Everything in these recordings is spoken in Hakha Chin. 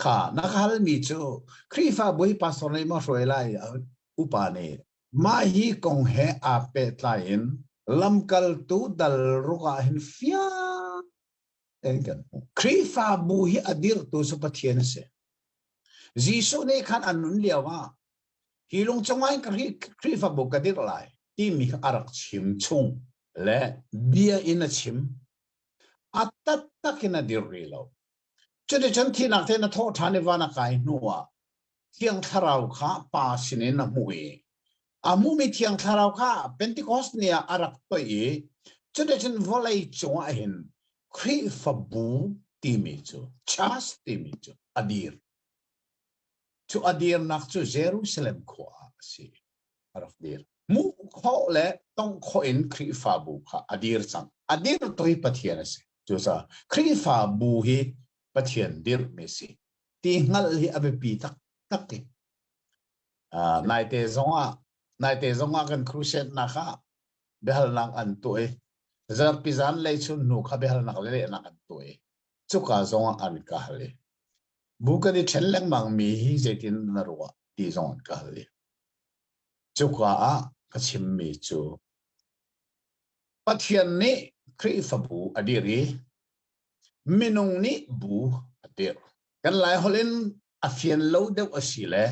Kha na ka halmi cu Khrihfa Bawipa sawm lei maw hruai lai upa nih mah hi kong he aa pehtlai in lamkaltu dal ruk ah hin fiang tein kan hmuh. Khrihfabu hi a dirhtu cu Pathian a si. Jesuh nih khan an nun lio ah hi lung cungah hin Khrihfabu ka dirh lai timi a rak chim chung le bia in a chim a taktak in a dirh rih lo cuticun thihnak te na thawh ṭhan i van a kai hnu ah thiang thlarau kha pa sinin a hmuh i a hmuhmi thiang thlarau kha Pentecost ni ah a rak toih i cuticun vawlei cungah hin Khrihfabu timi cu church timi cu a dir cu a dirnak cu Jerusalem khua ah a si a rak dir. Hmuh khawh le tongh khawh in Khrihfabu kha a dir cang. A dirtu hi Pathian a si. Cucaah Khrihfabu hi Pathian dirhmi a si. Ti hngalh hi a biapi taktak i. Uh, naite zongah, naite zongah kan crusade-nak ah biahalnak an tuah i, zarhpi zan lei chun hnu kha biahalnak le lehnak an tuah i, cuka zongah an ka hal i, bu kan i ṭhen lengmang mi hi zeitin na ruah ti zong an ka hal i, Cuka ah ka chimmi cu Pathian nih Khrihfabu a dirh i minung nih bu a dirh. Kan Laiholh in a fian lo deuh a si le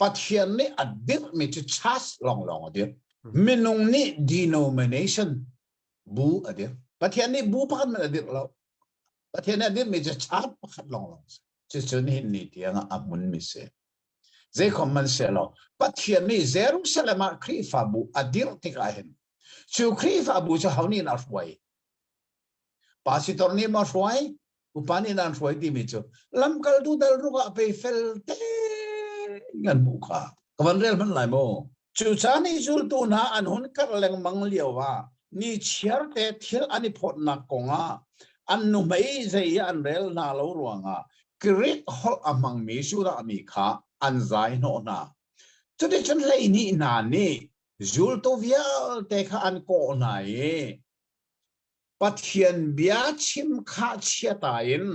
Pathian nih a dirhmi cu church lawnglawng a dirh. Minung nih denomination bu a dirh. Pathian nih bu pakhat hmanh a dirh lo. Pathian nih a dirhmi cu church pakhat lawnglawng a si. Cucu nihin ni tiang ah a hmunmi a si. Zeikhom hmanhsehlaw Pathian nih Jerusalem ah Khrihfabu a dirh tikah hin cu Khrihfabu cu ho nih an hruai? Pastor nih maw a hruai? Upa nih an hruai timi cu lamkaltu dal rukah pei fel tein an hmuh kha ka van rel hmanh lai maw? Cucaan i zultu hna an hun karh lengmang lio ah ni chiarte thil an i phawtnak kong ah an nuhmei zei i an rel hna lo ruangah Greek holh a hmangmi Judah mi kha an zai hnawh hna. Cuticun hleihnih hna nih zultu vialte kha an kawh hna i Pathian bia chim khah chiata in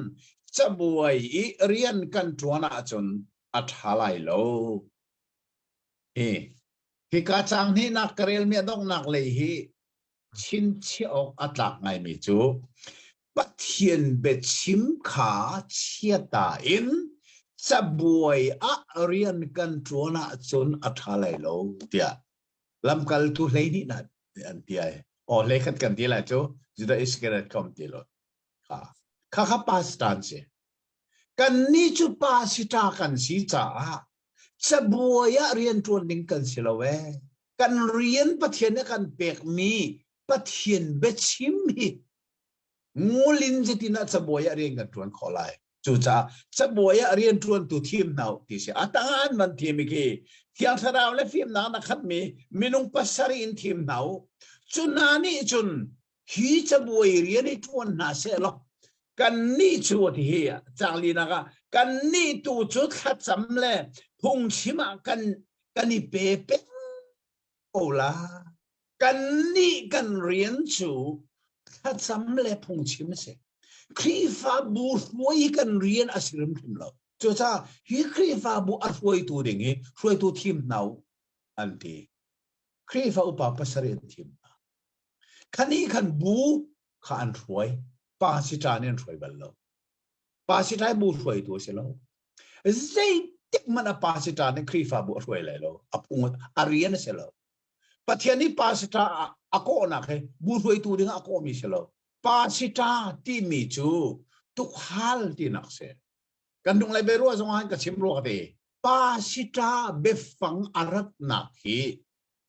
cabuai i rian kan ṭuan ahcun a ṭha lai lo. Hika caang hnihnak ka relmi a donghnak lei hi chinchiah awk a tlak ngaimi cu Pathian biachim kha chiata in cabuai ah rian kan ṭuan ahcun a ṭha lai lo tiah lamkaltu hleihnih nih an ti ai. Aw hleikhat kan ti lai cu Judah Iscariot kong ti lo. Kha kha pa si ta an si. Kannih cu pa si ta kan si caah Cabuai ah rianṭuan ding kan si lo ee. Kan rian Pathian nih a kan pekmi Pathian biachim hi ngulin zetin ah cabuai ah rian kan ṭuan khawh lai. Cucaah cabuai ah rianṭuantu thim hna u ti si. A tangan man thim i khi thiang thlarau le fimnak na khatmi minung pasarih in thim hna u. Cu hna nih cun hi cabuai rian i tuan hna seh law kan nih cu tihi cang linak ah kan nih tu cu thlacam le phungchim ah kan kan i pe peng ko la kan nih kan rian cu thlacam le phungchim a si Khrihfabu hruai kan rian a si rimhrim lo cucaah hi Khrihfabu a hruaitu ding i hruaitu thim hna an ti Khrihfa upa pasarih an thim hna Kha nih khan bu kha an hruai. Pa siṭa nih an hruai bal lo. Pa siṭai bu hruaitu a si lo. Zeitik hmanh a pa siṭa nih Khrihfabu a hruai lai lo. A phung a rian a si lo. Pathian nih pa siṭa a kawhnak he bu hruaitu dingah a kawhmi si lo. Pa siṭa timi cu tukhal tinak si. Kan dung lai ruah zongah ka chim rua ka te. Pa siṭa biafang a ratnak hi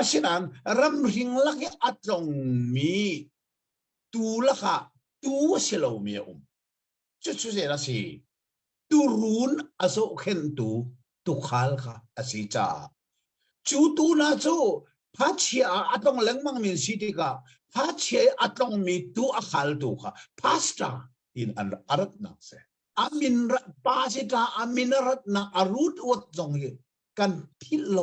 Asinain ramhring lak i a tlongmi tuu lakah tuu a si lomi a um. Cucu zeil a si? Turun a zohkhenhtu tukhal kha a si caah. Cu tuu hna cu phachia ah a tlong lengmang min si tikah phachia i a tlongmi tuu a khaltu kha pastor tiin an a ratnak a si. A min pa si ta a min a ratnak a root word zong hi kan philh lo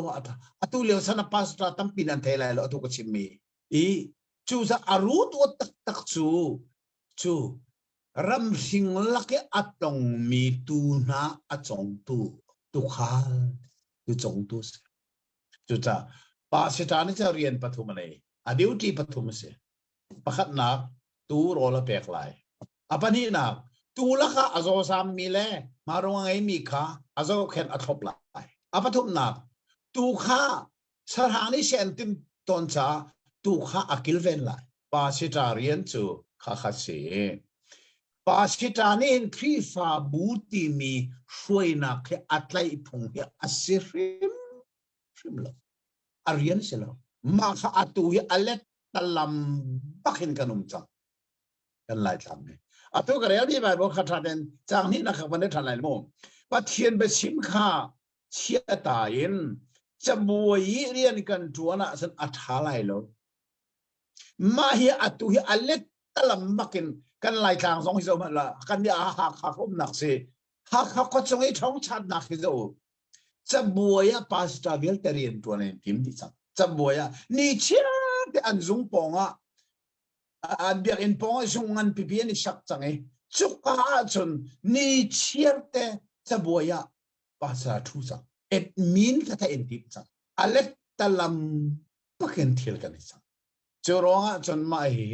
atu leo sana pastor tampi nan thei lai lo atu ka chimmi i cu za aru to tak tak cu cu ramhring lake atong mi tu hna achongtu tu khal tu chongtu si cuca pa sita ni cha rian pathum le a duty pathum si pakhatnak tuu rawl a pek lai. A pahnihnak tuu lakah a zawsammi le marung a ngeimi kha a zohkhenh a thlop lai. A pathumnak tuu kha sarhang nih sen tin ton ca tuu kha a kilven lai. Pasita rian cu khakhat si. Pasita nih hin Khrihfabu timi hruainak hi a tlaih phung hi a si hrim hrim lo a rian si lo mah kha atu hi a let talam bakin kan um cang kan lai tlam ni atu ka rel mi bible kha tha den chang ni na kha ban tha lai mo pathian be sim kha chiata in chabuai rian kan tuana san a tha lai lo ma hi atu hi a let talam bakin kan lai tlang zong hi zo ma la kan ni a ha kha khom nak si ha kha ko chung i thong chat nak hi zo cabuai ah pastor vialte rian ṭuan an tim dih cang cabuai ah ni chiate an zung pawng ah an biakinn pawng ah zung ngan pipi an i sak cang i cuka ahcun ni chiarte cabuai ah pastor ṭhu cang admin thatha in tim cang alet talam pakin thil kan i cang cu ruang ahcun mah hi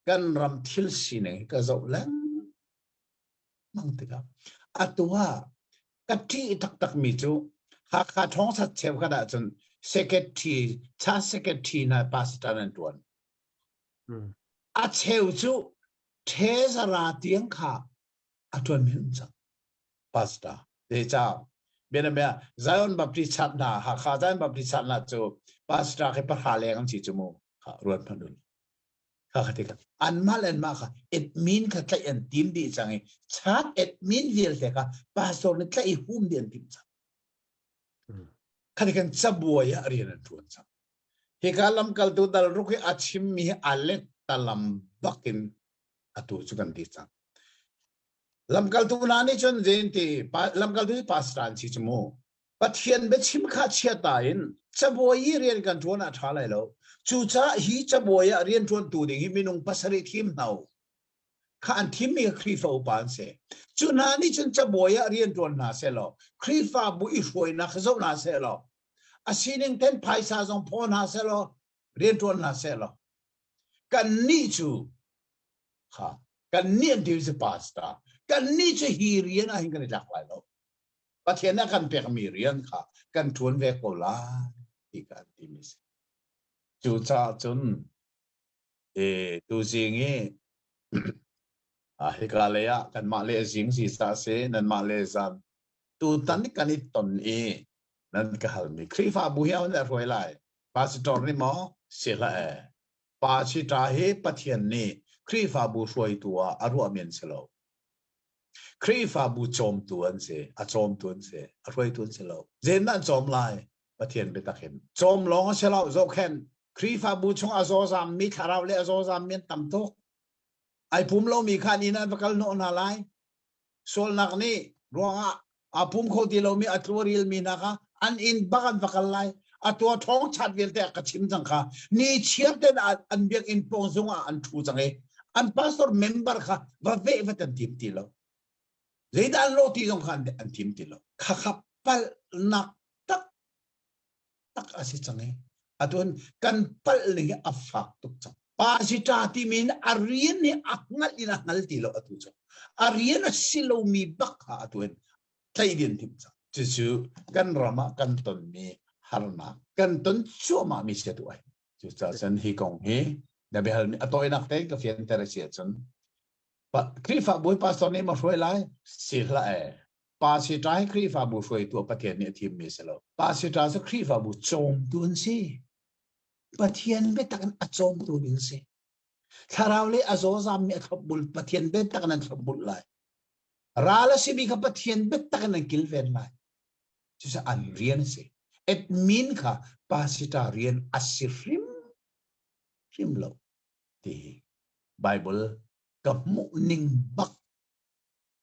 kan ram thil sining ka zoh lengmang tikah atu ah ka ṭih taktakmi cu Hakha thawngsa cheukhat ahcun secretary cha secretary hna pastor an ṭuan. A cheu cu Tezara tiang kha a ṭuan men cang pastor. Zeicah? Bianabia Zion Baptist Church hna, Hakha Zion Baptist Church hna cu pastor khi pahra leng an si cu mu. Ruat hmanh u. kha ka ti anmah le anmah kha admin kha tlaih an tim dih cang i chak admin vialte kha pastor nih tlaih i hum dih an tim cang khati kan cabuai ah rian an ṭuan cang hika lamkaltu dal ruk hi a chimmi hi alek talam bakin atu cu kan ti cang lamkaltu hna nih cun zein ti lamkaltu hi pastor an si cu mu Pathian biachim kha chiata in cabuai i rian kan ṭuan ah a ṭha lai lo. Cucaah hi cabuai ah rianṭuantu ding hi minung pasarih thim hna u. Kha an thimmi kha Khrihfa upa an si. Cu hna nih cun cabuai ah rianṭuan hna sehlaw Khrihfabu i hruainak kha zoh hna sehlaw a sining ten phaisa zong phaw hna sehlaw rianṭuan hna sehlaw kannih cu ha kannih an deals a pass ta kannih cu hi rian ah hin kan i tlak lai lo Pathian nih a kan pekmi rian kha kan ṭuan ve ko lai ti kan timi a si. Cucaah cun tuzing i hika lei ah kanmah le zing zisa a si nanmah le zan tutan kan i ton i nan ka halmi Khrihfabu hi a hun hruai lai. Pastor nih maw si hlah ee Pa si ṭa hi Pathian nih Khrihfabu hruaitu ah a ruah men si lo. Khrihfabu cawmtu an si, a cawmtu an si, a hruaitu an si lo. Zen an cawm lai, Pathian biatak hin. Cawm lawng a si lo, zohkhen Khrihfabu chung a zawzam mi thlarau le a zawzam mi an tam tuk. Ai pum lomi kha ni nan va kal hnawh hna lai. sualnak nih ruangah aa pum kho ti lomi a tlu a rilmi hna kha an inn bak an va kal lai a tua thong chat vialte a ka chim cang kha ni chiam ten an biakinn pawng zung ah an thu cang i an pastor member kha va ve vat an tim ti lo zeidah an lo ti zong kha an tim ti lo khakhap palnak tak a si cang i atun kan palh li a fak tuk cang pasita timi in a rian nih a hngal in a hngal ti lo atu cu a rian a si lomi bak ha atun tleidin tim cang cucu kan ram ah kan tonmi harnak kan ton cuahmah mi si tu ai cucaah sen hi kong hi na behal mi a tawinak te ka fian ter si cun Khrihfa bawi pastor nih ma hruai lai si hla e Pa siṭai Khrihfabu hruaitu a Pathian nih a thimmi a si lo. Pa siṭai cu Khrihfabu cawmtu an si. Pathian biatak in a cawmtu in si. Thlarau le a zawzammi a thlopbul Pathian biatak in an thlopbul lai. Ral a simi kha Pathian biatak in an kilven lai. Cucu an rian a si. Admin kha pasita rian a si hrim hrim lo ti Bible ka hmuh ning bak